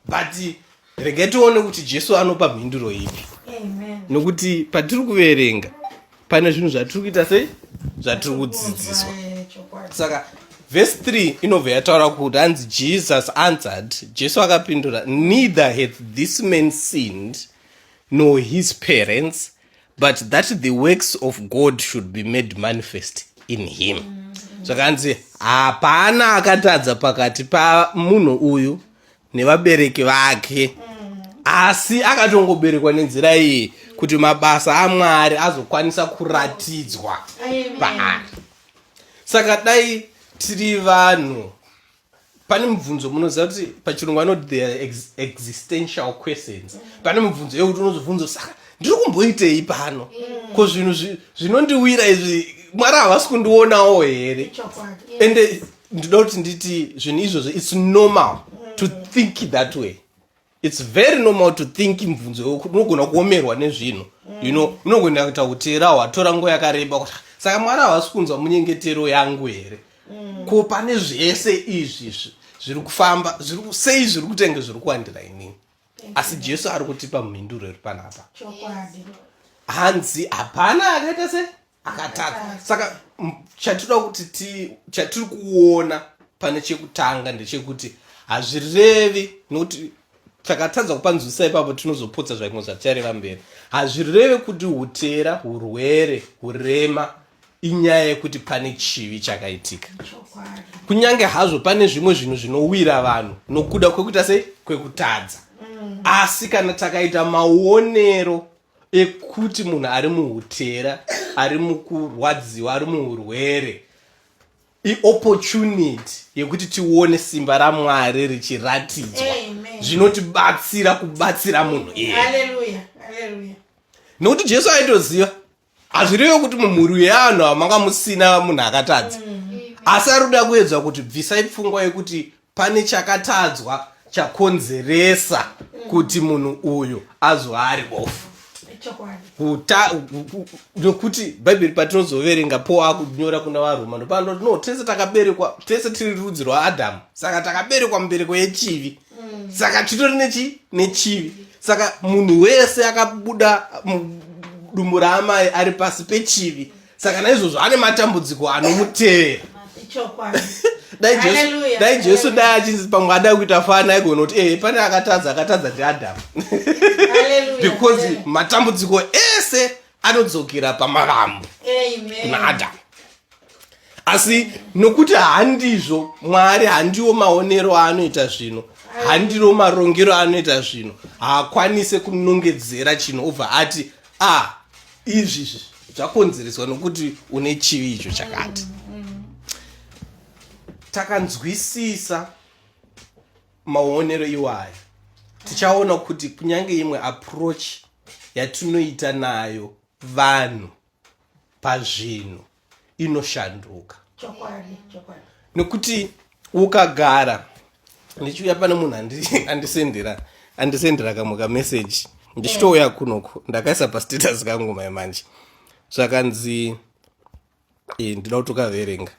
but regai tione kuti jesu anopa mhinduro ipi nokuti patiri kuverenga pane zvinhu zvatiri kuita sei zvatiri kudzidziswa saka vhesi 3 inobva yataura kuti hanzi jesus answered jesu akapindura neither hath this man sinned nor his parents but that the works of god should be made manifest in him zvakanzi hapana akatadza pakati pamunhu uyu nevabereki vake asi akatongoberekwa nenzira iyi kuti mabasa amwari azokwanisa kuratidzwa paari saka dai tiri vanhu pane mubvunzo munoziva kuti pachirungu anoti the ex, existential questions pane mubvunzo yekuti unozobvunzo saka ndiri kumboitei pano ko zvinhu zvinondiwira izvi mwari havasi kundionawo here ende ndinoda kuti nditi zvinhu izvozvo its normal to think that way its very normal to think mubvunzo unogona kuomerwa nezvinhu you know unogona kuita kuti ra watora nguva yakareba kuti saka mwari havasi kunzwa munyengetero yangu here mm. ko pane zvese izvi zviri kufamba sei zviri kutenge zviri kuwandira inini asi jesu ari kutipa mhinduro iri panapa hanzi hapana akaita sei akatadza saka chatinoda kuti chatiri kuona pane chekutanga ndechekuti hazvirevi nokuti takatadza kupa nzwisa ipapo tinozopotsa zvaimwe zvatichareva mberi hazvireve kuti utera hurwere hurema inyaya yekuti pane chivi chakaitika kunyange hazvo pane zvimwe zvinhu zvinowira vanhu nokuda kwekuita sei kwekutadza mm. asi kana takaita maonero ekuti munhu ari muhutera ari mukurwadziwa ari muurwere iopportunity yekuti tione simba ramwari richiratidzwa zvinotibatsira kubatsira munhu iye nokuti jesu aitoziva hazvirevo kuti mumhuri weanhu amanga musina munhu akatadza mm. asi ari kuda kuedzwa kuti bvisai pfungwa yekuti pane chakatadzwa chakonzeresa kuti munhu uyu azova ari bofu nokuti bhaibheri patinozoverenga po akunyora kuna varoma ndopano no tese takaberekwa tese tiri rudzi rwaadhamu saka takaberekwa mubereko yechivi mm. saka titori nechi nechivi saka munhu wese akabuda dumbu raamai ari pasi pechivi saka naizvozvo ane matambudziko anomutevera dai jesu dai achinzi pamwe adai kuita fana aigona kuti ee eh, pane akatadza akatadza ndiadhamu because matambudziko ese anodzokera pamavambo kuna adhamu asi nokuti handizvo mwari handiwo maonero aanoita zvino handiro marongero aanoita zvino haakwanise kunongedzera chino obva ati a ah, izvi izvi zvakonzereswa nokuti une chivi icho chakati takanzwisisa maonero iwayo tichaona kuti kunyange imwe approach yatinoita nayo vanhu pazvinhu inoshanduka nekuti ukagara ndichiuya pane munhu andisendera andisendera kamwe kameseji ndichitouya eh. kunoku ndakaisa pastatus kangu mai manje zvakanzi eh, ndida kutokaverenga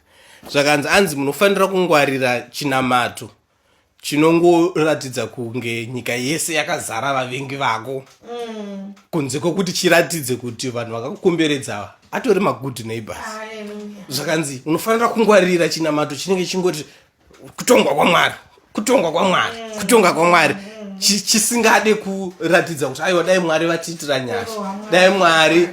zvakanzi anzi munofanira kungwarira chinamato chinongoratidza kunge nyika yese yakazara vavengi vako mm. kunze kwokuti chiratidze kuti vanhu vakakukomberedza atori magood neighbors zvakanzi unofanira kungwarira chinamato chinenge chingoti kutongwa kwamwari kutongwa kwamwari mm. kutonga kwamwari mm. chisingade kuratidza kuti aiwa dai mwari vatiitira nyasha dai mwari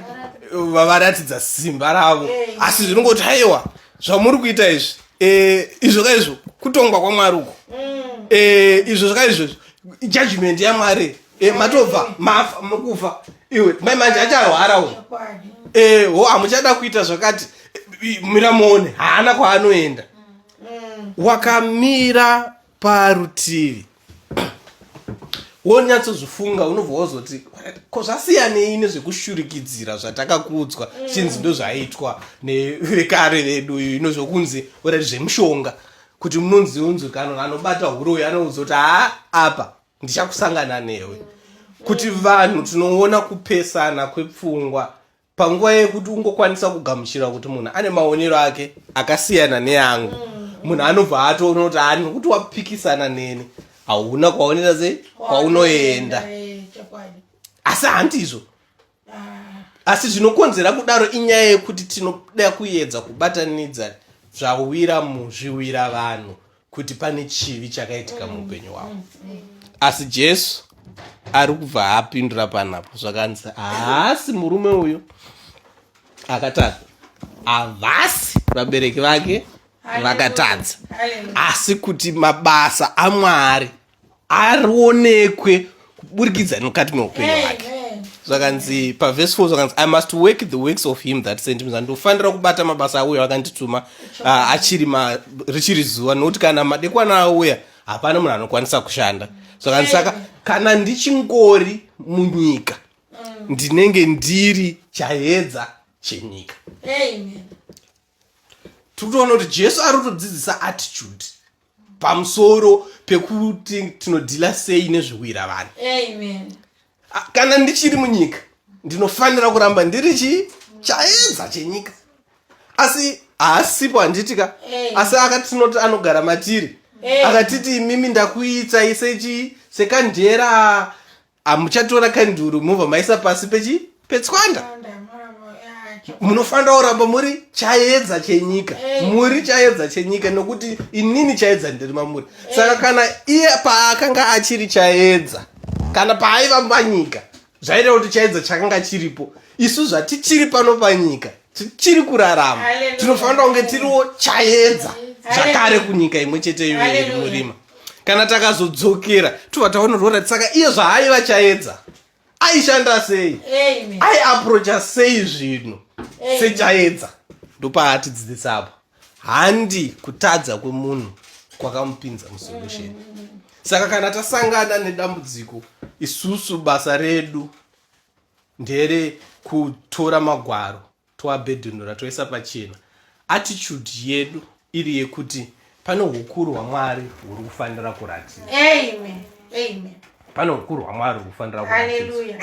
vavaratidza simba ravo eh. asi zvinongoti aiwa zvamuri kuita izvi eh, izvo ka izvo kutongwa kwamwari uko mm. eh, izvo zvaka izvozvo judgment yamwari eh, matobva mafa makufa iwe mai manje acharwara u ho hamuchada kuita zvakati mira muone haana kwaanoenda mm. wakamira parutivi wonyatsozvifunga unobva wozoti ko zvasiyanei nezvekushurikidzira zvatakakuudzwa mm. chinzi ndozvaitwa nevekare vedu ino zvokunzi orati zvemushonga kuti munonzi unzwi kano anobata huroyi anoudza kuti haa apa ndichakusangana newe kuti vanhu tinoona kupesana kwepfungwa panguva yekuti ungokwanisa kugamuchira kuti munhu ane maonero ake akasiyana neangu mm. munhu anobva atoona kuti ani nokuti wapikisana neni hauna kwaonera sei kwaunoenda eh, asi handizvo ah. asi zvinokonzera kudaro inyaya yekuti tinoda kuyedza kubatanidza zvawira muzviwira vanhu kuti pane chivi chakaitika muupenyu hwavo asi jesu ari kubva apindura panapo zvakanzi haasi murume uyo akatadza havasi vabereki vake vakatadza asi kuti mabasa amwari arionekwe kuburikidza nemukati meupenyu hwake zvakanzi pavhesi 4 zvakanzi i must work the works of him that sent me ndofanira kubata mabasa auya akandituma ah, achiri richiri zuva nokuti kana madekwana auya hapana munhu anokwanisa kushanda zvakanzi saka kana ndichingori munyika mm. ndinenge ndiri chayedza chenyika tiri kutoona kuti jesu ari kutodzidzisa attitude pamusoro pekuti tinodhila sei nezvekuira vanhu amen A- kana ndichiri munyika ndinofanira kuramba ndiri chi chaedza chenyika asi haasipo handiti ka Eh. asi akati tinoti anogara matiri Eh. akatiti imimi ndakuitsai sechi sekandera amuchatora kanduru mobva maisa pasi pechi petswanda munofanira kuramba muri chayedza chenyika eh. muri chayedza chenyika nokuti inini chayedza ndiri mamuri eh. saka kana iye paakanga achiri chayedza kana paaiva panyika zvaita kuti chayedza chakanga chiripo isu zvatichiri pano panyika tichiri kurarama tinofanira kunge tiriwo chaedza zvakare kunyika imwe chete iyo iri murima kana takazodzokera tobva taonorora saka iye zvaaiva chaedza aishanda sei aiaprocha sei zvinhu sechaedza ndopaatidzidzisa apo handi kutadza kwemunhu kwakamupinza musolution saka kana tasangana nedambudziko isusu basa redu ndere kutora magwaro toabhedhenura toisa pachena attitude yedu iri yekuti pane ukuru hwamwari huri kufanira kuratiza pane ukuru hwamwari huri kufanira kuratiza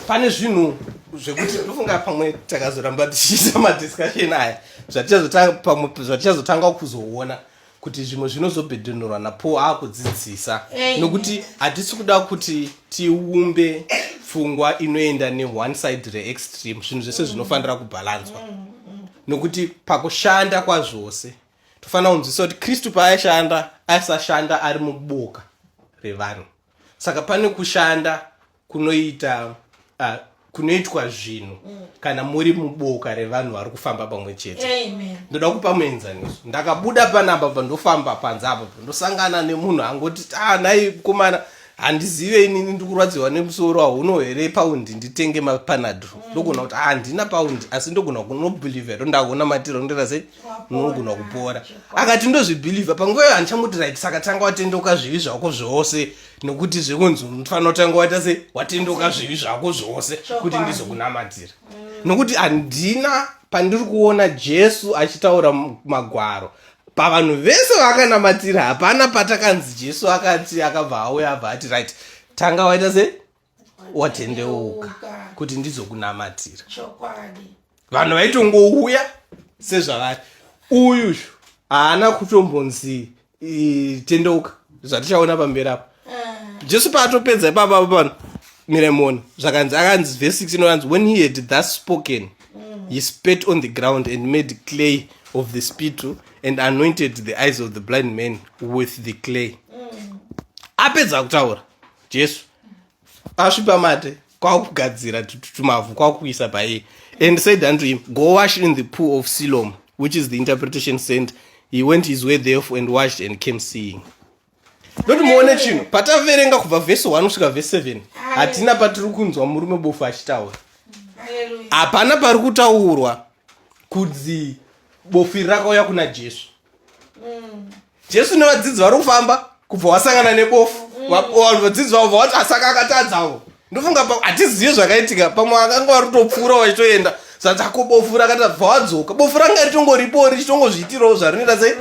pane zvinhu zvekuti ndofunga pamwe takazoramba tichiita madiscussion aya zvatichazotanga kuzoona kuti zvimwe zvinozobhedhenurwa napaul akudzidzisa nokuti hatisi kuda kuti tiumbe pfungwa inoenda neone side reextreme zvinhu zvese zvinofanira kubhalanzwa nokuti pakushanda kwazvose tofanira kunzwisa kuti kristu paaishanda aisashanda ari muboka revanhu saka pane kushanda kunoita uh, kunoitwa zvinhu mm. kana muri muboka revanhu vari kufamba pamwe chete ndoda kupa muenzaniso ndakabuda panapa pa ndofamba panze apa pa ndosangana nemunhu angoti ta ah, nai kumana handizive inini ndikurwadziwa nemusoro hauno here paundi nditenge mapanadro mm. ndogona kuti ah, handina paundi asi ndogona kunobhilivha ro ndaona matiro ndira sei nogona kupora akati ndozvibhilivha panguva iyo handichamutira iti saka tanga watendoka zvivi zvako zvose nokuti zvekunzi unofanira kutanga waita se watendoka zvivi zvako zvose kuti ndizokunamatira mm. nokuti handina pandiri kuona jesu achitaura magwaro pavanhu vese vakanamatira hapana patakanzi jesu akati akabva auya abva ati right tanga waita se watendeuka kuti ndizokunamatira vanhu vaitongouya sezvavari uyu haana kutombonzi tendeuka zvatichaona pamberi apo eh. jesu paatopedza ipapa pano miremoni zvakanzi akanzi vhesi 6 inoranzi when he had thus spoken mm. he spet on the ground and made clay of the spittle and anointed the eyes of the blind man with the clay mm. apedza kutaura jesu asvi pamate kwakugadzira tumavhu kwakuisa paiye and said unto him go wash in the pool of silom which is the interpretation sent he went his way therefore and washed and came seeing ndoti muone chinhu pataverenga kubva vhesi 1 kusvika vhesi 7 hatina patiri kunzwa murume bofu achitaura hapana pari kutaurwa kudzi bofu iri rakauya kuna jesu mm. jesu nevadzidzi vari kufamba kubva wasangana nebofu mm. vanhu vadzidzi vavo vawati asaka akatadzavo ndofunga hatizivi zvakaitika pamwe akanga vari kutopfuura vachitoenda zvatako bofu rakata bva wadzoka bofu ranga ritongoripo richitongozviitirawo zvarinoita sei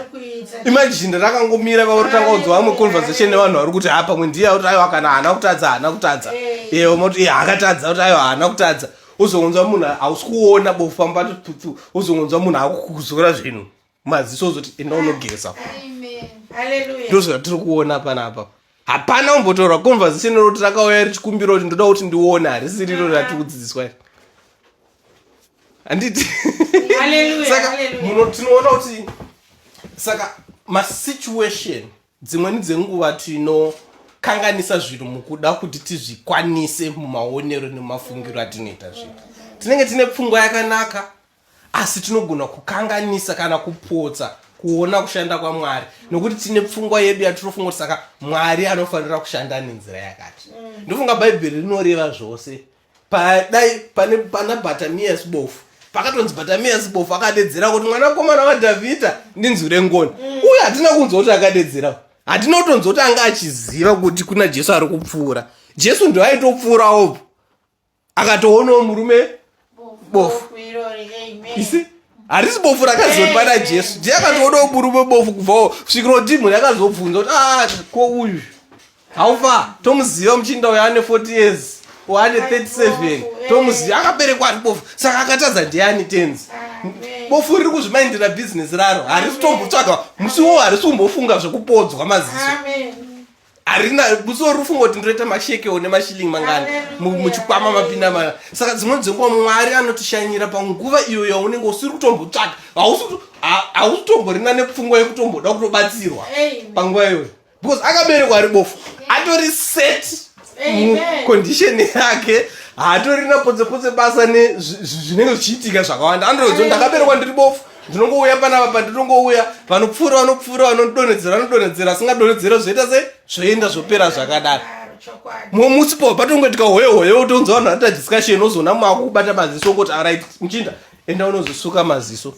imajini rakangomira vavo rotanga kudzwa vamwe conversation nevanhu vari kuti ha pamwe ndiye kuti aiwa kana haana kutadza haana kutadza evo moti e akatadza kuti aiwa haana kutadza ozongonzwa munhu hausi kuona bofu pambatotutsu ozongonzwa munhu akukuzora zvinhu maziso ozoti enda unogeza ndozvatiri kuona panapa hapana kumbotaura conversation iroti rakauya richikumbira kuti ndoda kuti ndione harisi riro ratiri kudzidziswa iri handiti saka muno tinoona kuti saka masituation dzimweni dzenguva tinokanganisa zvinhu mukuda kuti tizvikwanise mumaonero nemafungiro atinoita zvinhu tinenge tine pfungwa yakanaka asi tinogona kukanganisa kana kupotsa kuona kushanda kwamwari nokuti tine pfungwa yedu yatinofunga kuti saka mwari anofanira kushanda nenzira yakati mm. ndofunga bhaibheri rinoreva zvose padai pana batamias bofu pakatonzi batamias bofu akadedzera kuti mwanakomana wadhavhidha ndinzwi rengoni mm. uye hatina kunzwa kuti akadedzera hatina kutonzwa kuti anga achiziva kuti kuna jesu ari kupfuura jesu ndoaitopfuurawo akatoonawo murume bofu isi harisi bofu rakazopa na jesu je akatoonawo murume bofu kubvawo svikiro dimho yakazobvunza kuti a ah, ko uyu haufa tomuziva muchinda uyo ane 40 years ane 37 tomuziva akaberekwa ari bofu saka akatadza ndiani tenzi bofu riri kuzvimaindira bhizinesi raro harisi tombotsvaga musiwo harisi kumbofunga zvekupodzwa maziso Amen. harina musi werufungo kuti ndoita masheke one mashiling mangani muchikwama mapinda mana saka dzimweni dzenguva mwari anotishanyira panguva iyo yaunenge usiri kutombotsvaka hausi kutomborina nepfungwa yekutomboda kutobatsirwa panguva iyoyo because akaberekwa ari bofu atori set mucondition yake haatorina podzepotse basa nezvinenge zvichiitika zvakawanda andozo ndakaberekwa ndiri bofu ndinongouya panapa pandinongouya vanopfuura vanopfuura vanodonhedzera vanodonhedzera asingadonhedzera zvoita se zvoenda zvopera zvakadaro mumwe musi po patongoitika hoye hoye utonza vanhu vanoita discussion ozoona mumwe akukubata maziso ongoti arit muchinda enda unozosuka maziso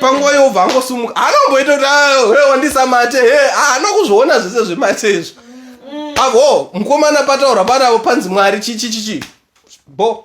panguva yobva angosumuka anomboita kuti he ah, wandisa mate he haana ah, kuzviona zvese zvemate izvo mm. avo mukomana pataura panavo panzi mwari chichichichi bo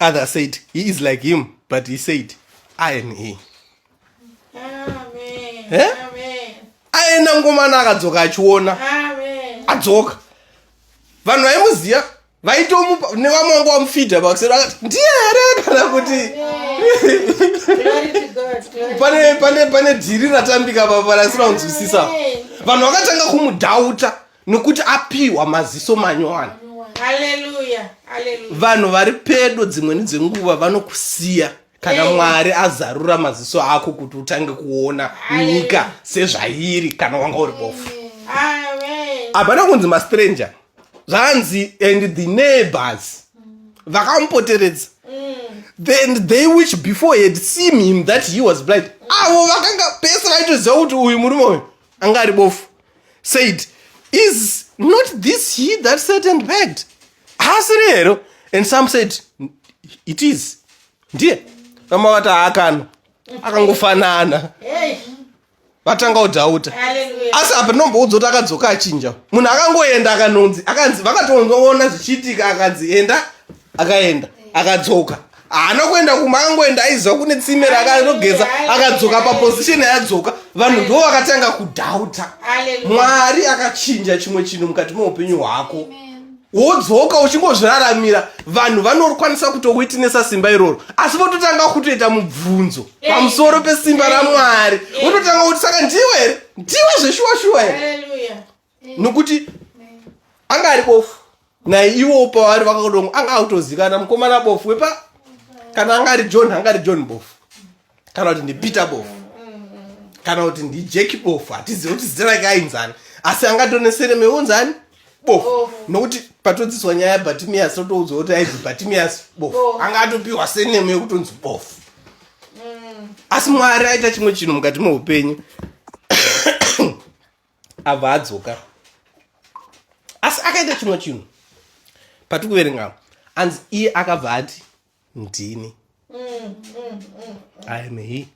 other said he is like him but he said i am he eh? aenda ngomana akadzoka achiona adzoka vanhu vaimuziva vaitomupa nevamwe vanga vamufidha pakusero akati ndiye here kana kuti pane dhiri ratambika papa rasina kunzwisisa vanhu vakatanga kumudhauta nokuti apiwa maziso manyowani vanhu vari pedo dzimweni dzenguva vanokusiya kana hey. Eh. mwari azarura maziso ako kuti utange kuona nyika sezvairi kana wanga uri bofu hapana kunzi mastranger zvanzi and the neighbors vakamupoteredza mm. then they which before had seen him that he was blind avo vakanga pese vaitoziva kuti uyu murume uyu anga ari bofu said is not this he that sat and begged haasiri here and some said it is ndiye vamwe vati haakana akangofanana vatanga kudhauta asi apa ndinomboudzwa kuti akadzoka achinja munhu akangoenda akanonzi akanzi vakatoona zvichiitika akanzi enda akaenda akadzoka haana kuenda kumba akangoenda aiziva kune tsime rakanogeza akadzoka paposition yadzoka vanhu ndo vakatanga kudhauta mwari akachinja chimwe chinhu mukati meupenyu hwako wodzoka uchingozviraramira vanhu vanokwanisa kutokuitinesa simba iroro asi vototanga kutoita mubvunzo pamusoro pesimba ramwari vototanga kuti saka ndiwe here ndiwe zveshuwa shuwa here nokuti anga ari bofu naye ivo pavari vakadongo anga akutozikana mukomana bofu wepa kana anga ari john anga ari john bofu kana kuti ndipeter bofu kana kuti ndijeki bofu hatizive kuti zita rake ainzani asi angatonesere meunzani bofu nokuti patodziswa nyaya yabatimias totoudzwa kuti aizi batimias bofu anga atopiwa senemo yekutonzi bofu mm. asi mwari aita chimwe chinhu mukati meupenyu abva adzoka asi akaita chimwe chinhu patiri kuverenga anzi iye akabva ati ndini iam he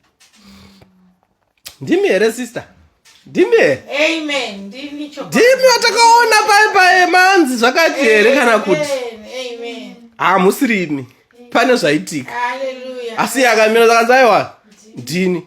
ndimi here sister ndimi herendimi watakaona pae pae manzi zvakati here kana kuti hamusirimi pane zvaitika asi akamira zakanzi aiwa ndini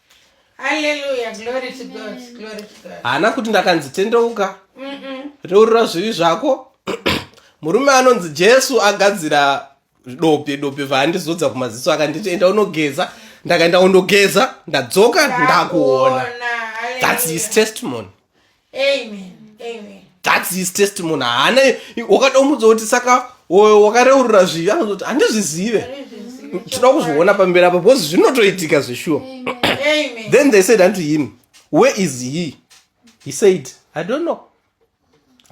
haana kuti ndakanzi tendeuka reurura zvivi zvako murume anonzi jesu agadzira dope dope vaandizodza kumaziso akanditi enda unogeza ndakaenda undogeza ndadzoka ndakuona thats his testimony thats his testimony haana wakada umudza kuti saka wakareurura zvivi anozoti handizvizive tinoda kuzviona pamberi apa because zvinotoitika zveshuwa then they said unto him where is he he said i don't know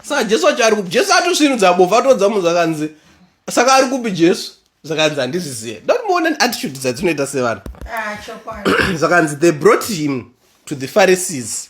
saka jesu wacho ari kupi jesu atosvinudza bofu atoudza munhu zvakanzi saka ari kupi jesu zvakanzi handizvizive don't muona neattitude dzatinoita sevanhu ah, zvakanzi they brought him to the pharisees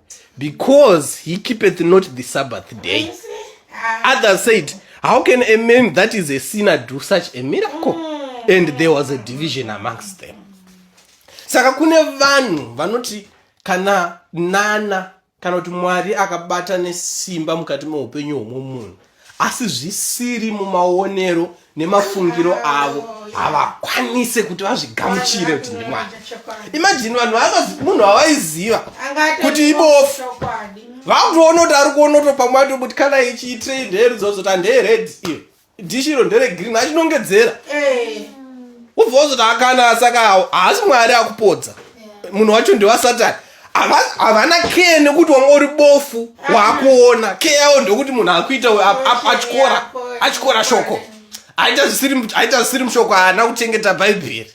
because he keepeth not the sabbath day others said how can a man that is a sinner do such a miracle mm. and there was a division amongst them saka kune vanhu vanoti kana nana kana kuti mwari akabata nesimba mukati meupenyu hwomumunhu asi zvisiri mumaonero nemafungiro avo havakwanise kuti vazvigamuchire kuti ndimwana imajini vanhu munhu avaiziva kuti ibofu vakutoona kuti ari kuona utopamwe ato kuti kana ichiitrei ndere dzozoti handeered iyo dishiro ndere green achinongedzera eh. ubva wozoti akana saka haasi mwari akupodza munhu wacho ndewasatani havana care nekuti wanga uri bofu waakuona care yavo ndokuti munhu akuita atyora atyora shoko aita zvisiri mushoko haana kuchengeta bhaibheri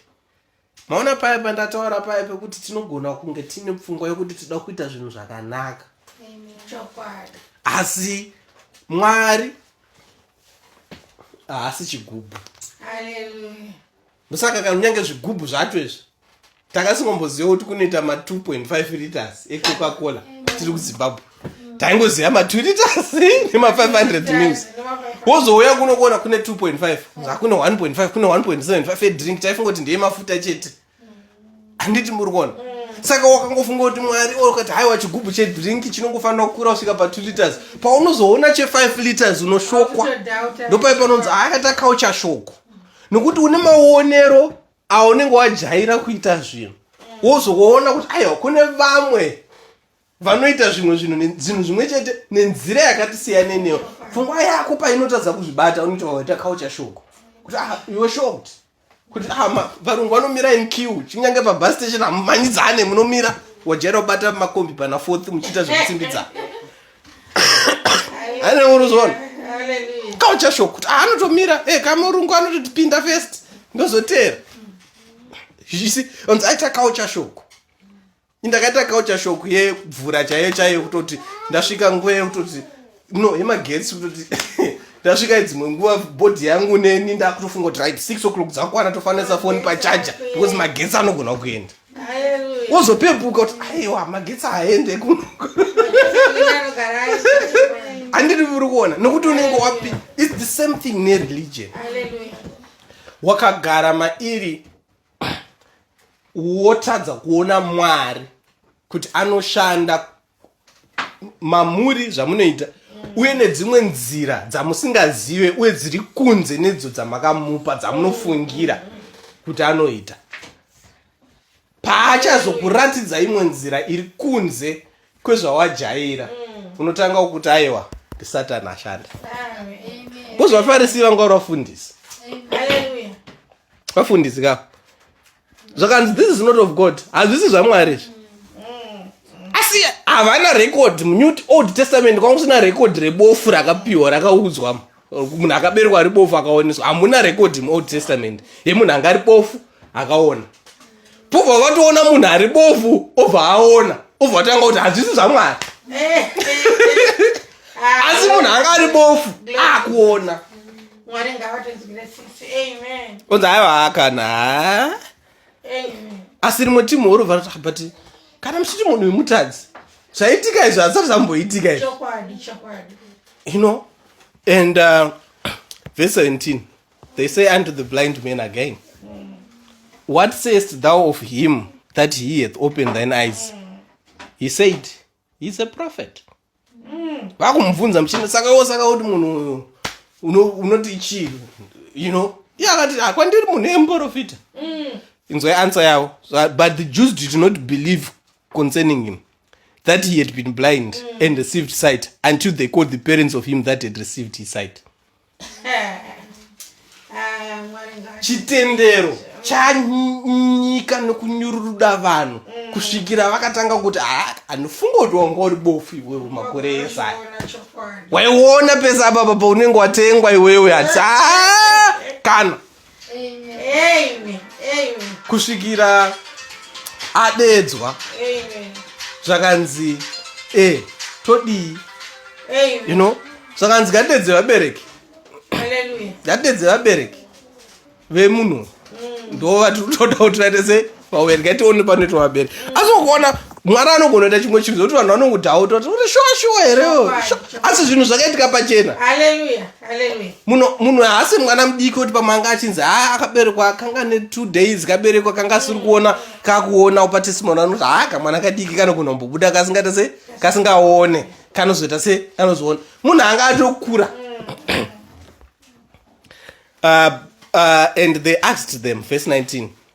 maona paya pandataura paya pekuti tinogona kunge tiine pfungwa yekuti tida kuita zvinhu zvakanaka asi mwari haasi chigubhu ndosaka kana kunyange zvigubhu zvacho izvi takasingomboziva kuti kunoita ma 2.5 liters ecoca cola tiri kuzimbabwe taingoziva ma 2 liters nema 500 mils wozouya kuno kuona kune 2.5 zvakune 1.5 kune 1.75 edrink taifunga kuti ndeye mafuta chete handiti muri kuona saka wakangofunga kuti mwari okati haiwa chigubhu chedrink chinongofanira kukura kusvika pa 2 liters paunozoona che 5 liters unoshokwa ndopai panonzi akati akaucha shoko nokuti une maonero aunenge wajaira kuita zvinhu wozoona kuti aiwa kune vamwe vanoita zvimwe zvinhu zvinhu zvimwe chete nenzira yakati siyane neyo pfungwa yako painotadza kuzvibata unoita waita kaucha shoko kuti ah, iwe shot kuti ah, varungu vanomira in q chinyange pabus station hamumhanyidzane munomira wajaira kubata makombi pana fourth muchiita zvekusimbidzana ane unozoona culture shock kuti ah, anotomira e eh, kamurungu anototipinda first ndozoteera isi onzi aita culture shock indakaita culture shock yekubvura chaiyo chaiyo kutoti ndasvika nguva yekutoti no yemagetsi kutoti ndasvika idzimwe nguva bhodhi yangu neni ndakutofunga kuti right six o'clock dzakwana tofanisa foni pachaja because magetsi anogona kuenda wozopepuka kuti aiwa magetsi haende kuno handiri uri kuona nokuti unenge wapi its the same thing nereligion wakagara mairi wotadza kuona mwari kuti anoshanda mamuri zvamunoita uye nedzimwe nzira dzamusingazive uye dziri kunze nedzo dzamakamupa dzamunofungira kuti anoita paachazokuratidza imwe nzira iri kunze kwezvawajaira unotanga kuti aiwa ndisatani ashanda kuzvafarisi vanga uri vafundisi vafundisi ka zvakanzi this is not of god hazvisi zvamwari izvi asi havana record munew old testament kwanga kusina record rebofu rakapiwa rakaudzwa munhu akaberwa ari bofu akaoneswa hamuna record muold testament yemunhu anga ari bofu akaona pobva vatoona munhu ari bofu obva aona obva vatanga kuti hazvisi zvamwari eh, eh, eh. asi munhu anga ari bofu akuona ah, Mwari ngavatinzwire tsitsi. Amen. Unzi haiwa kana. Amen. Asi rimwe timu huru varo but kana muchiti munhu wemutadzi zvaitika izvo hazvisati zvamboitika izvo. Chokwadi chokwadi. You know and uh, verse 17 they say unto the blind man again mm. what sayest thou of him that he hath opened thine eyes? Mm. He said he's a prophet mm. vakumubvunza muchina saka wo saka kuti munhu uyu unoti chii you know iye akati akwandiri munhu emuprofita mm. inzwai answer yavo but the jews did not believe concerning him that he had been blind mm. and received sight until they called the parents of him that had received his sight chitendero chanyika nokunyururuda vanhu mm. kusvikira vakatanga kuti ah, anofunga kuti wanga uri bofu iwewe makore ese aya waiona pese apapa paunenge watengwa iwewe ati ah, kana kusvikira adedzwa zvakanzi e todii you know zvakanzi ngatidedze vabereki ngatidedze vabereki vemunhu mm. ndo vatiri kutoda kuti vaite sei vawerga tione panoitwa vabere asi ukuona mwari anogona kuita chimwe chinhu zoti vanhu vanongudhauta kuti uri shuwa shuwa here asi zvinhu zvakaitika pachena munhu haasi mwana mudiki kuti pamanga achinzi haa akaberekwa akanga ne two days kaberekwa kanga asiri kuona kakuona upa testimony anoti haa kamwana kadiki kanogona kumbobuda kasingaita se kasingaone kanozoita se kanozoona munhu anga atokura mm. uh, uh, and they asked them verse 19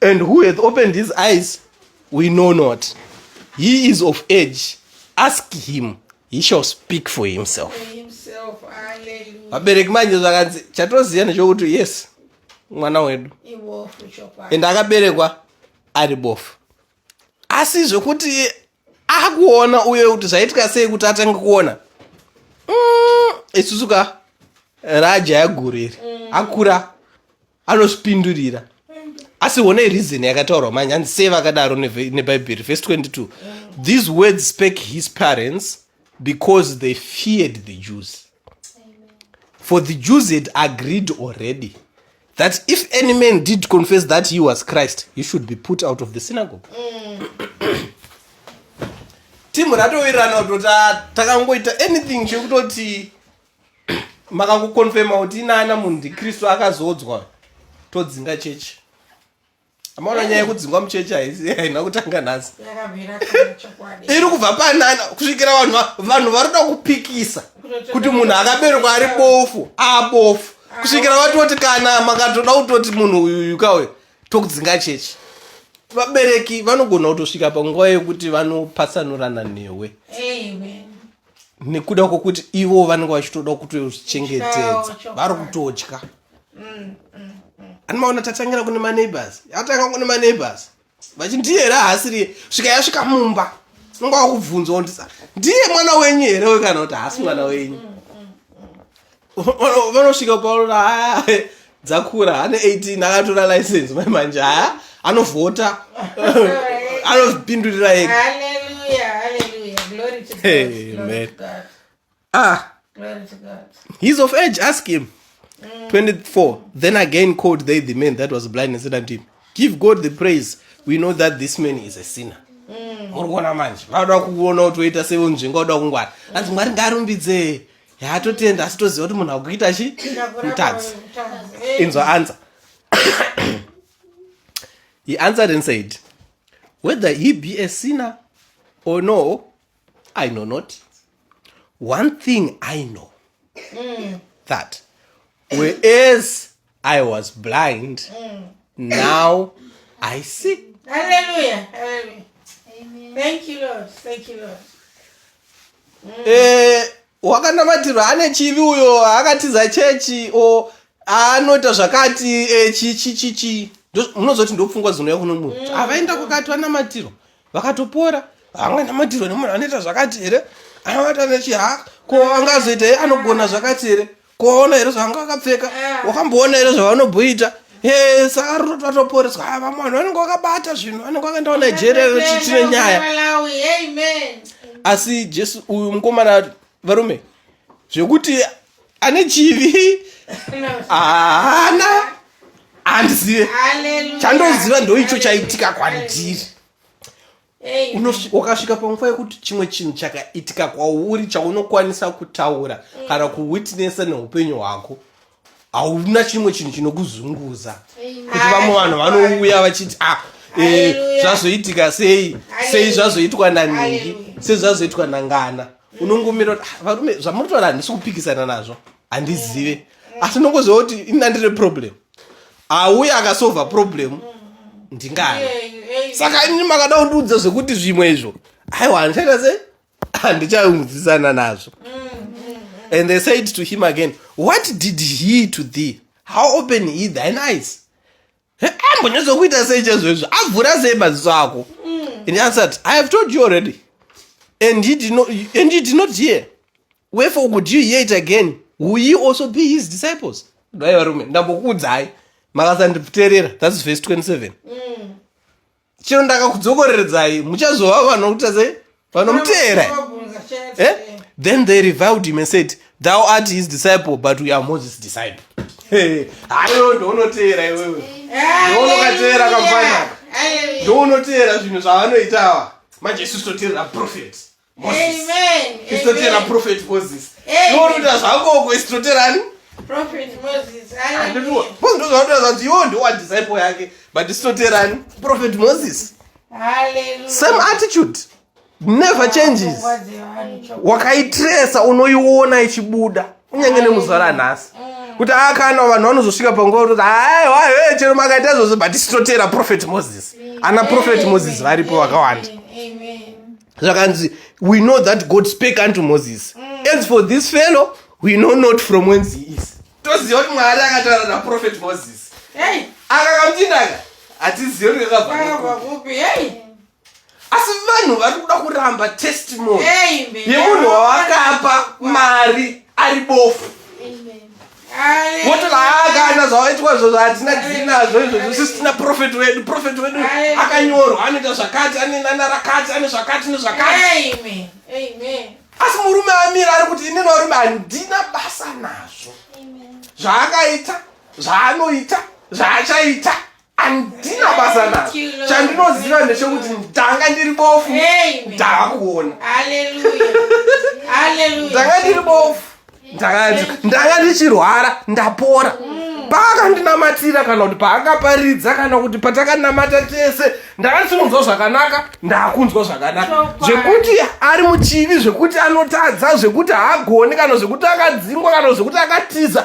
and who hath opened his eyes we know not he is of age ask him he shall speak for himself vabereki manje zvakanzi chatoziva nechokuti yes mwana wedu and akaberekwa ari bofu asi zvekuti akuona uye kuti zvaitika sei kuti atange kuona mm, isusu mm, ka raja yaguriri mm. akura anozvipindurira asi honai reason yakataurwa manje hanzi sei vakadaro nebhaibheri vhesi 22 mm. these words spake his parents because they feared the jews for the jews had agreed already that if any man did confess that he was christ he should be put out of the synagogue timu ratowirirana kutoti takangoita anything chekutoti makangokonfema kuti inaana munhu ndikristu akazoodzwa todzinga chechi amaona nyaya yekudzingwa muchechi haisi haina kutanga nhasi iri kubva panana kusvikira vanhu vanhu vari kuda kupikisa kuti munhu akaberekwa ari bofu abofu kusvikira vatoti kana makatoda kutoti munhu uyuyu kauyo tokudzinga chechi vabereki vanogona kutosvika panguva yekuti vanopatsanurana newe nekuda kwokuti ivo vanenge vachitoda kutozvichengetedza vari kutotya mm, mm, mm. ani maona tatangira kune maneighbors yatanga kune maneighbors vachi ndiye here haasiriye svika yasvika mumba unonga wakubvunzwa ndisa ndiye mwana wenyu here we kana kuti haasi mwana wenyu vanosvika paona haya dzakura ane 18 akatora license mai manje haya anovhota anozvipindurira ega ah he's of age ask him mm. 24 then again called they the man that was blind and said unto him give god the praise we know that this man is a sinner mm. muri kuona manje vanoda kuona kuti woita sevonzvenga woda kungwara anzi mwari ngaarumbidzee yaa totenda asi toziva kuti munhu akuita chi mutadzi inzwa anza he answered and said whether he be a sinner or no i know not one thing i know mm. that whereas i was blind mm. now i see hallelujah hallelujah Amen. thank you lord thank you lord mm. eh wakanamatirwa ane chivi uyo akatiza chechi o anoita zvakati eh, chichichichi munozoti ndopfungwa zinouya kuno munhu mm. avaenda kukati vanamatirwa vakatopora vamwe namatirwe nemunhu anoita zvakati here anavata nechiha ko angazoita here anogona zvakati here koona here zvavanga vakapfeka eh. wakamboona here zvavanobhoita eh, saka rutoti vatoporeswa ah, vamwe vanhu vanenge vakabata zvinhu vanenge vakaendawo nigeria vachitine nyaya asi jesu uyu mukomana varume zvekuti ane chivi haana handizive chandoziva ndoicho chaitika kwandiri wakasvika panguva yekuti chimwe chinhu chakaitika kwauri chaunokwanisa kutaura mm. kana kuwitnessa neupenyu hwako hauna chimwe chinhu chinokuzunguza kuti vamwe vanhu vanouya vachiti ah, eh, zvazoitika sei sei zvazoitwa naningi sei zvazoitwa nangana unongomira kuti ah, varume zvamuri taura handisi kupikisana nazvo handizive asi ndongoziva kuti ini andine problem auye akasova problem ndingana saka ini makada kundiudza zvekuti zvimwe izvo aiwa handichaita sei handichaungudzisana nazvo and they said to him again what did he to thee how open he thine eyes ambonyatsokuita sei chezvezvo avhura sei maziso ako and he answered i have told you already and he did not, and he did not hear wherefore would you hear it again will ye also be his disciples dai varume ndambokuudzai makasanditerera thats verse 27 mm. chero ndakakudzokoreredzai muchazova vanhu vokutadza vanomuteera eh? then they revived him and said thou art his disciple but we are moses disciple haiwe ndounoteera iwewe ndounokateera kamfanaka ndounoteera zvinhu zvavanoitawa manje isu toteerera profet isitotera prophet moses noruta zvakoko isitoterani ndozvauta zvanzi iwo ndowa disciple yake but isitoterani prophet moses same attitude never changes wakaitresa unoiona ichibuda kunyange nemuzvara nhasi mm. kuti akana ah, vanhu vanozosvika panguva kutoti aiwa he chero makaita izvozvo but isitotera prophet moses ana prophet moses varipo vakawanda zvakanzi we know that god spake unto moses mm. as for this fellow we know not from whence he is toziva kuti mwari akataura naprofet moses hey. akakamutindaka hatizive kuti kakabva kupi hey asi vanhu vari kuda kuramba testimony yemunhu wawakapa mari ari bofu wotovaakana zvawaitwa zvo zvahatina tinazvo izvozvo sisi tina profeti wedu profeti wedu akanyorwa anoita zvakati ane nana rakati ane zvakati nezvakati asi murume amira ari kuti inini varume handina basa nazvo zvaakaita zvaanoita zvaachaita andina basa nazo chandinoziva ndechekuti ndanga ndiri bofu ndakakuona ndanga ndiri bofu ndanga ndichirwara ndapora mm. paakandinamatira kana kuti paakaparidza kana kuti patakanamata tese ndanga ndisingunzwa zvakanaka ndakunzwa zvakanaka zvekuti ari muchivi zvekuti anotadza zvekuti haagoni kana zvekuti akadzingwa kana zvekuti akatiza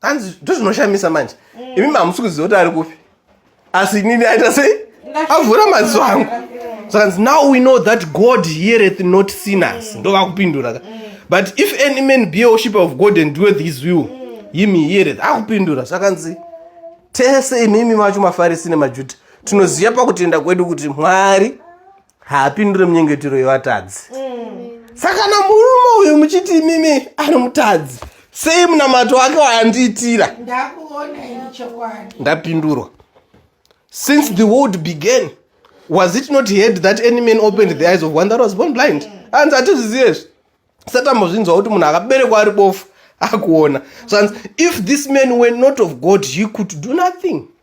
hanzi ndozvinoshamisa manje mm. imi mamusi kuziva kuti ari kupi asi inini aita sei avhura maziso angu sakanzi now we know that god heareth not sinners mm. ndova kupindura ka mm. but if any man be a worshiper of god and doeth his will him he heareth akupindura sakanzi tese imimi macho mafarisi nemajuda tinoziva pakutenda kwedu kuti mwari haapindure munyengetero yevatadzi saka na murume uyu muchiti imimi ari mutadzi sei munamato wake waandiitira ndakuona ini chokwadi ndapindurwa since the world began was it not heard that any man opened the eyes of one that was born blind hanzi hatizvizive izvi satambozvinzwa kuti munhu akaberekwa ari bofu akuona zvanzi if this man were not of god he could do nothing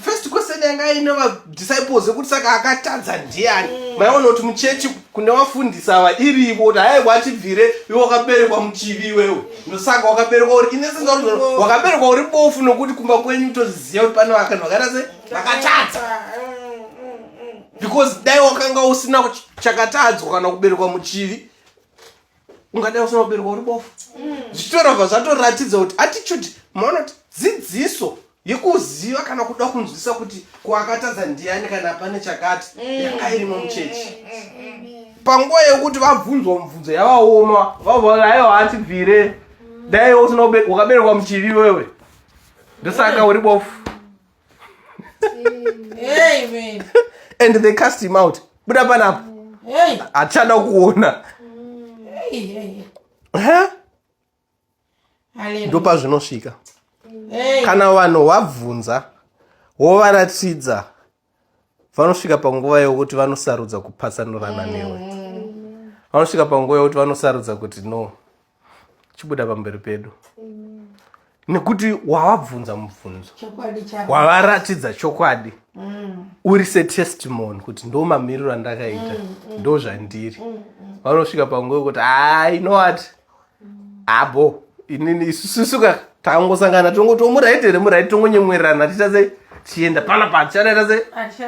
first question yanga aine vadisciples yekuti saka akatadza ndiani mm. maiona kuti muchechi kune vafundisi ava irivo kuti hayi watibvire iwe wakaberekwa muchivi iwewe ndosaka wakaberekwa uri inesenza kuti mm. wakaberekwa uri bofu nokuti kumba kwenyu toziziva kuti pane vakanhu vakaita se vakatadza mm, because dai wakanga usina chakatadzwa kana kuberekwa muchivi ungadai usina kuberwa uri bofu mm. zvitorobva zvatoratidza kuti attitude maona kuti dzidziso yekuziva kana kuda kunzwisa kuti kuakatadza ndiani kana pane chakati mm. yanga irimo muchechi panguva yekuti vabvunzwa mubvunzo yavaoma vavolayo hatibvire dai usina ukaberekwa muchivi wewe ndosaka uri bofu Amen. and they cast him out buda panapo Hey, hachada kuona hey, hey. Huh? Hallelujah. ndopazvinosvika Hey. kana vanhu wabvunza wovaratidza vanosvika panguva yokuti vanosarudza kupatsanurana newe vanosvika panguva yokuti vanosarudza kuti no chibuda pamberi pedu nekuti wavabvunza mubvunzo wavaratidza chokwadi mm. uri setestimony kuti ndo mamiriro andakaita mm, mm. ndo zvandiri vanosvika panguva yekuti haa ah, inowati abo inini isusuka tangosangana tongoti omuraiti here muraiti tongonyemwerana tiita sei tichienda pana pa tichadaita sei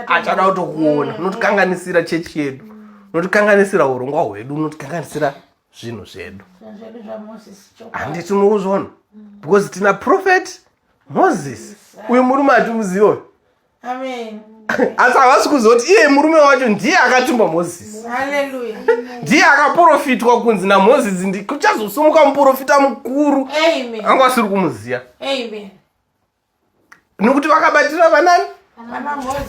achada kutokuona unotikanganisira chechi yedu unotikanganisira urongwa hwedu unotikanganisira zvinhu zvedu handiti unokuzvona mm. because tina prophet moses uyu murume atimuziva uyu asi havasi kuzoti iye murume wacho ndiye akatumba moses ndiye akaprofitwa kunzi namoses ndi kuchazosumuka muprofita mukuru anga asiri kumuziva nokuti vakabatira vanani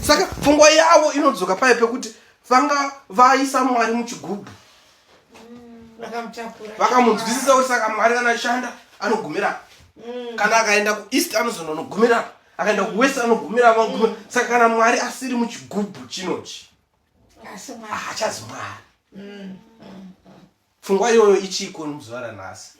saka pfungwa yavo inodzoka paye pekuti vanga vaisa mwari muchigubhu vakamunzwisisa kuti saka mwari anashanda anogumira mm. kana akaenda kueast anozononogumira akaenda kuwest anogumira vagumira mm. saka kana mwari asiri muchigubhu chinochi haachazimwari Pfungwa iyoyo ichiko nomuzuva ranhasi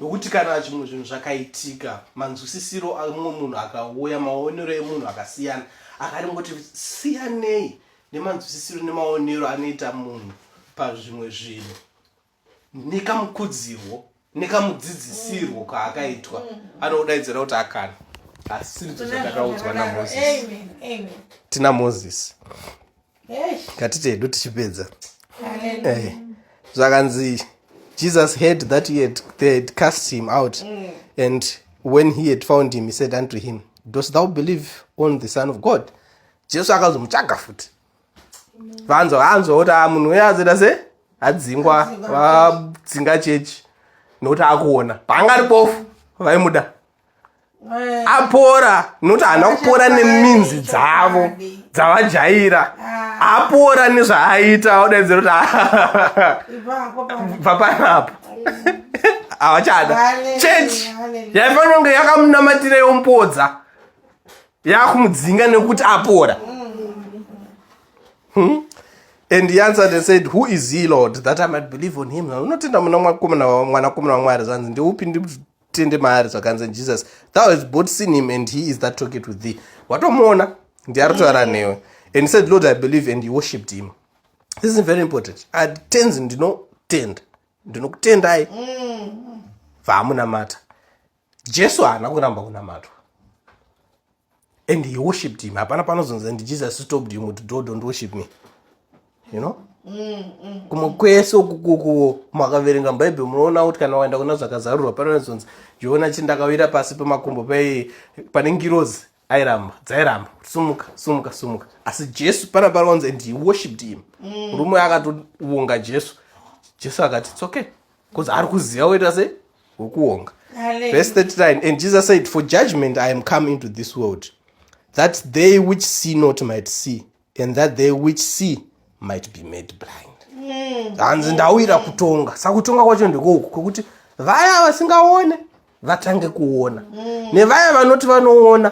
nokuti mm. kana zvimwe zvinhu zvakaitika manzwisisiro amumwe munhu akauya maonero emunhu akasiyana akaringoti siyanei nemanzwisisiro nemaonero anoita munhu pazvimwe zvinhu nekamukudzirwo nekamudzidzisirwo mm. kaakaitwa mm. anodaidzira kuti akana asi ndizvo zvandakaudzwa namosis tina moses ngatitedu tichipedza eh, zvakanzi jesus heard that he had, they had cast him out mm. and when he had found him he said unto him dost thou believe on the son of god jesu akazomutsvaga futi vanzwa vanzwa kuti ah, munhu uye azoita se adzingwa vadzinga chechi nokuti akuona paangari bofu vaimuda eh. apora nokuti haana kupora neminzi dzavo dzavajaira ah. apora nezvaaita odaidzira kuti ah. bva panapo havachada chechi yaifanira kunge yakamunamatira yompodza yakumudzinga nekuti apora hmm? and he answered and said who is he lord that i might believe on him unotenda muna mwanakomana wamwari zvanzi ndeupi tende maari zvakanzi jesus thou has bought seen him and he is that toket with thee watomuona ndiaritoara mm. newe and said lord i believe and he worshipped him this is very important atends ndinotenda ndinokutendai mm. vaamunamata jesu haana kuramba kunamatwa and he worshipped him hapana panozonzi and jesus stopped him kuti do don't worship me you know mm, mm, kumwe mm. kwese ukukukuwo makaverenga mubhaibheri munoona kuti kana waenda kuna zvakazarurwa panozonzi zviona chi ndakawira pasi pemakumbo pai pane ngirozi airamba dzairamba sumuka sumuka sumuka asi jesu pana panonzi and he worshipped him murume akatovonga jesu jesu akati it's okay Because ari kuziva woita sei? Wokuonga. Verse 39 And Jesus said, For judgment I am come into this world, that they which see not might see, and that they which see might be made blind. Mm. hanzi ndauyira kutonga saka kutonga kwacho ndikouku kwekuti vaya vasingaone vatange kuona mm. nevaya vanoti vanoona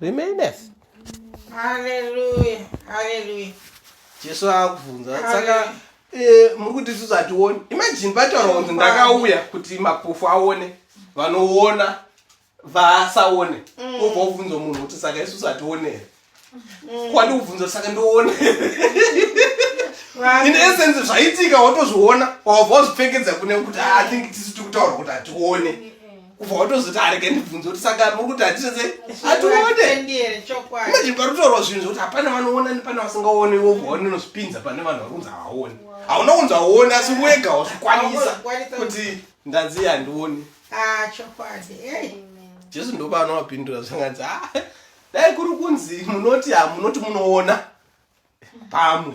remaineth haleluya haleluya jesu akubvunza saka eh, muri kuti isusu hationi imajini pataura kunzi ndakauya kuti mapofu aone vanoona vasaone mm. obva ubvunza munhu kuti saka isusu hatione here mm. kwandi kubvunza saka ndione in essence zvaitika watozviona wabva wazvipfekedza kune kuti ah, i think tisu tikutaura kuti hatione kubva watozoti arege ndibvunze kuti saka muri kuti handisese atiooneimajini parutorwa zvinhu zvokuti hapana vanoona nepana vasingaone wovaone unozvipinza pane vanhu vari kunzi havaone hauna kunzi hauone asi wega wazvikwanisa kuti ndanzi handioni ah, jesu ndoba anovapindura zvanganzi ah, dai kuri kunzi munoti hamunoti munoona pamwe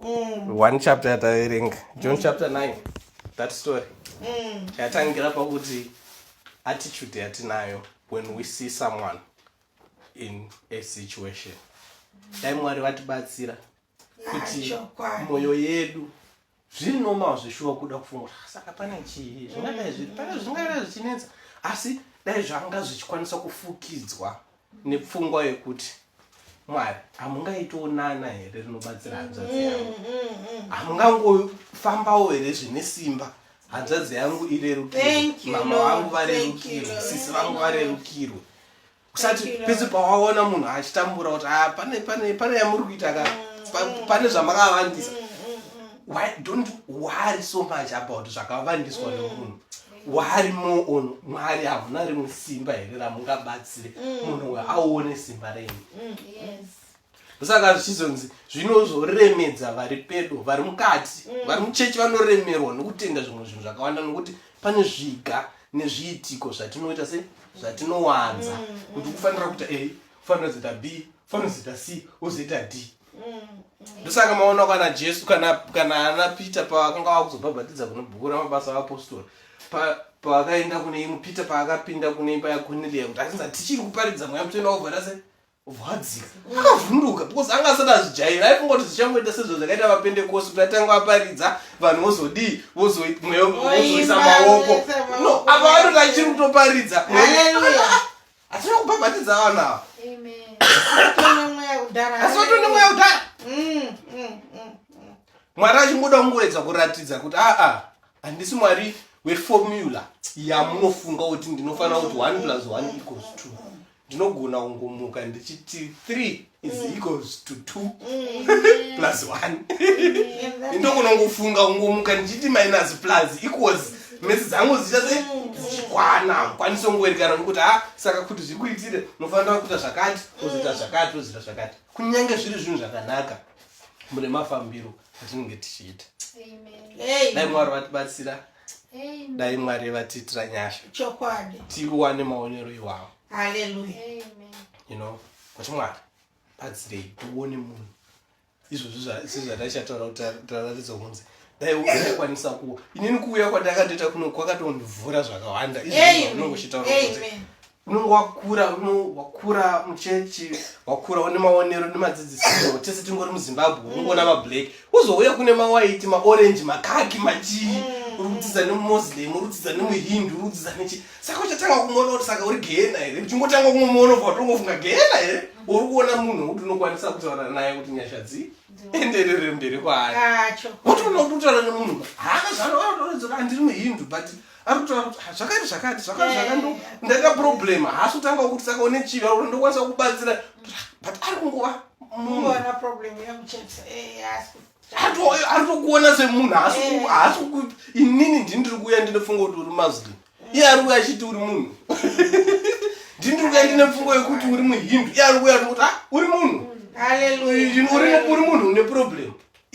mm. one chapter yataverenga john mm. chapter 9 that story mm. yatangira pakuti attitude yatinayo when we see someone in a situation dai mwari vatibatsira kuti mwoyo yedu zviri normal zvishuwa kuda kufunga ah, saka pane chii zvingadai zviri pane zvingadai zvichinetsa asi dai zvanga zvichikwanisa kufukidzwa nepfungwa yekuti mwari hamungaitiwo nana here rinobatsira hanzvadzi mm, yangu mm, mm. hamungangofambawo here zvine simba hanzvadzi yangu irerukirwe mama vangu varerukirwe sisi vangu varerukirwe usati pese pawaona munhu achitambura kuti ah, pane pane pane yamuri kuita ka pane zvamakavandisa why don't worry so much about zvakavandiswa nemunhu wari muono mwari havuna rimwe simba here ramungabatsire mm. munhu we aone simba renyu mm, saka zvichizonzi zvinozoremedza vari pedo vari mukati mm. vari muchechi vanoremerwa nokutenda zvimwe zvinhu zvakawanda nokuti pane zviga nezviitiko zvatinoita se zvatinowanza kuti kufanira kuita a kufanira kuzoita b kufanira kuzoita c wozoita d ndosaka maona kana jesu kana kana ana peter pavakanga vava kuzobhabhatidza kune bhuku ramabasa avapostori pavakaenda kune imwe peter paakapinda kune imba yakonelia kuti atinza tichiri kuparidza mweya mutoenda wobvara se vadzika akavhunduka because anga asati azvijaira aifungoti zvichangoita sezvo zvakaita vapendekosi kuti atanga vaparidza vanhu vozodii vozoisa maoko no apa vanoti achiri kutoparidza Achiri kubhabhatidza vanhu ava. Amen. Asi vatone mweya kudhara. Mm, mm, mm, mm. Mwari achingoda kungoedza kuratidza kuti aa ah, ah, handisi mwari weformula yamunofunga kuti ndinofanira kuti one plus one equals two. Ndinogona kungomuka ndichiti three is mm. equals to two mm. plus one mm. ndokunongofunga ungomuka ndichiti minus plus equals mesi dzangu dzichazikwana kwanisa ungoerekana nokuti ha ah, saka kuti zvikuitire unofanira kuita zvakati ozoita zvakati ozoita zvakati kunyange zviri zvinhu zvakanaka mune mafambiro atinenge tichiita dai mwari vatibatsira dai mwari vatiitira nyasha tiwane maonero iwawo haleluya you know kuti mwari batsirei tione munhu izvozvi zvataishataura kuti tararidza kunzi daikwanisa kuwa inini kuuya kwandakatoita kuno kwakatondivhura zvakawanda izvozvinongo chitaura kuti unenge wakura wakura muchechi wakura une maonero nemadzidzisiro tese tingori muzimbabwe mm. unongoona mablack uzouya kune mawaiti maorange makaki machii mm. urudzidza nemumuslim urudzidza nemuhindu urudzidza nechi saka uchatanga kumuona kuti saka uri gehena here uchingotanga kumuona bva watongofunga gehena here uri kuona munhu wekuti unokwanisa kutaura naye kuti nyasha dzii enderere mberi kwaari wotoona kuti utaura nemunhu haana zvaanoaotoredzoka andiri muhindu but ari kutaura kuti zvakati zvakati zvakati eh. zvakati ndaita problem haasi kutanga kuti saka une chivi ari kuti ndokwanisa kukubatsira but ari kungova munhu ari kukuona semunhu haasi eh. inini ndini ndiri kuuya ndine pfungo kuti uri muslim iye ari kuuya achiti uri munhu ndini ndiri kuuya ndine pfungo yekuti uri muhindu iye ari kuuya tikuti ah, uri munhu uri munhu une problem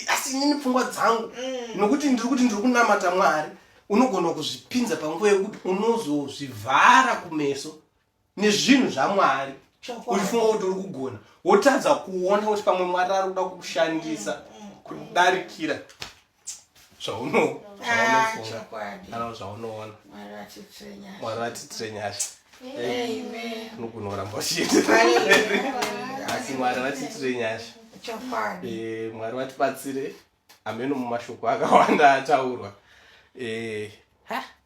asi inini pfungwa dzangu mm. nokuti ndiri kuti ndiri kunamata mwari unogona kuzvipinza panguva yekuti unozozvivhara kumeso nezvinhu zvamwari uchifunga kuti uri kugona wotadza kuona kuti pamwe mwari ari kuda kukushandisa mm, mm, kudarikira zvaunofunga zvaunoona mwari vatitrenyasha unogona kuramba uchiendeasi mwari vatitire nyasha eh, mwari vatibatsire ameno mumashoko akawanda ataurwa eh,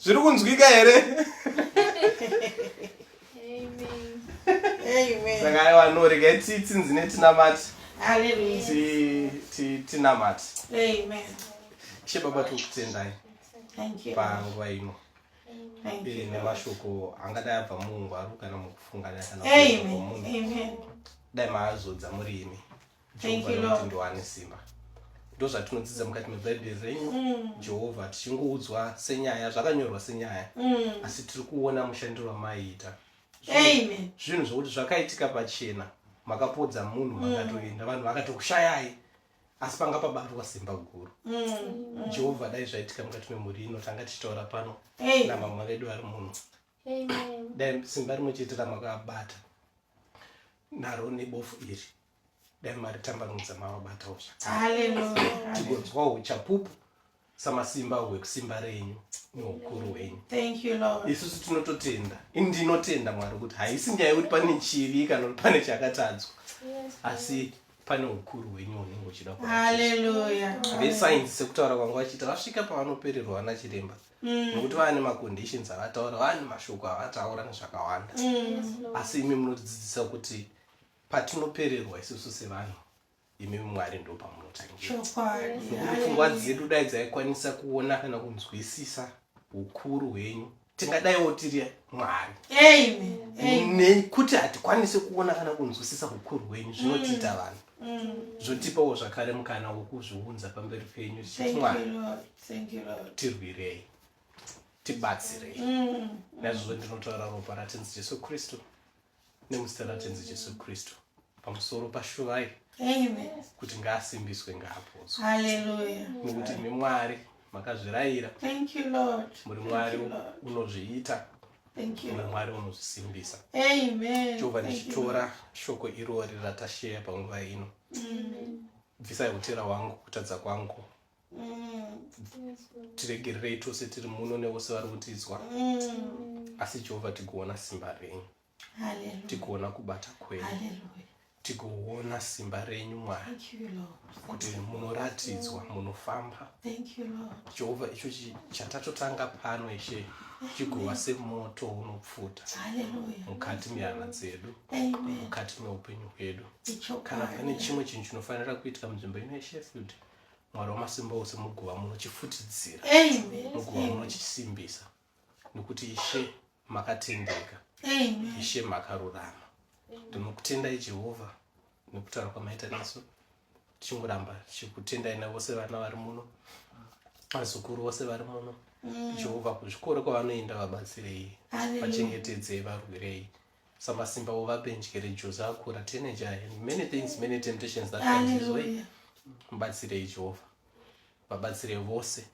zviri kunzwika here saka aiwa norega tsitsi nzine tinamati tinamati she baba tiri kutendai panguva ino eh, nemashoko angadai abva muungwaru kana mukufungana kana munhu dai maazodza muri imi jehovha ndoane simba ndozvatinodzidza mukati mebhaibheri renyu mm. jehovha tichingoudzwa senyaya zvakanyorwa senyaya mm. asi tiri kuona mushandiro wamaiita zvinhu zvokuti zvakaitika pachena makapodza munhu mm. makatoenda vanhu vakatokushayai asi panga pabatwa simba guru mm, mm. jehovha dai zvaitika mukati memhuri ino tanga tichitaura pano namama vedu vari muno dai simba rimwe chete ramakabata naro nebofu iri dai mari tambanudza mavabatawo zvakatigonzwawo uchapupu samasimba hwekusimba renyu neukuru hwenyu isusu tinototenda indinotenda mwari kuti haisi nyaya yekuti pane chivi kana kuti pane chakatadzwa asi pane ukuru hwenyu hunenge uchida vesainzi sekutaura kwanga vachiita vasvika pavanopererwa vana chiremba mm. nokuti vava nemaconditions avataura vava nemashoko avataura nezvakawanda mm. asi imi munotidzidzisa kuti patinopererwa isusu sevanhu imi mwari ndo pamunotangiropfungwa dzedu dai dzaikwanisa kuona kana kunzwisisa ukuru hwenyu tingadaiwo tiri mwari nekuti hatikwanisi kuona kana kunzwisisa ukuru hwenyu zvinotiita mm. vanhu mm. zvotipawo zvakare mukana wokuzviunza pamberi penyu tichiti mwari tirwirei tibatsirei mm. naizvozvo ndinotaura ropa ratinzi jesu kristu nemuzita ratenzi jesu kristu pamusoro pashuvai kuti ngaasimbiswe ngaapodzwe nokuti imi mwari makazvirayira muri mwari unozviita muri mwari unozvisimbisa jehovha ndichitora shoko irori ratasheya panguva ino bvisai utera wangu kutadza kwangu tiregererei tose tiri muno nevose vari kutizwa asi jehovha tikuona simba renyu tikuona kubata kwenyu tikuona simba renyu mwari kuti munoratidzwa munofamba jehovha icho chatatotanga pano ishe chigova semoto unopfuta mukati mehana dzedu mukati meupenyu hwedu kana pane chimwe chinhu chinofanira kuitika munzvimbo ino yeshefield mwari wamasimba ose muguva muno chifutidzira muguva muno chisimbisa nokuti ishe makatendeka ishe makarurama ndinokutendai jehovha nekutaura kwamaita nesu tichingoramba tichikutendai navose vana vari muno vazukuru vose vari muno mm. jehovha kuzvikoro kwavanoenda vabatsirei vachengetedzei varwirei Samasimba uvape njere Jozi akura teenager aye and many things many temptations that comes his way. Hallelujah. Mubatsirei Jehovha. Vabatsirei vose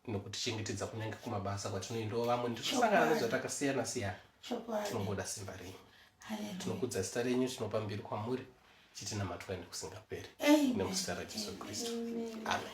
nokutichengetedza kunyange kumabasa kwatinoendawo vamwe ndichosangana Chokwadi. nezvatakasiyana siyana. Chokwadi. Tinongoda simba renyu. Hallelujah. Tinokudza zita renyu tinopa mbiri kwamuri chitinamatwa nekusingaperi. Amen. Nemuzita raJesu Kristu. Amen.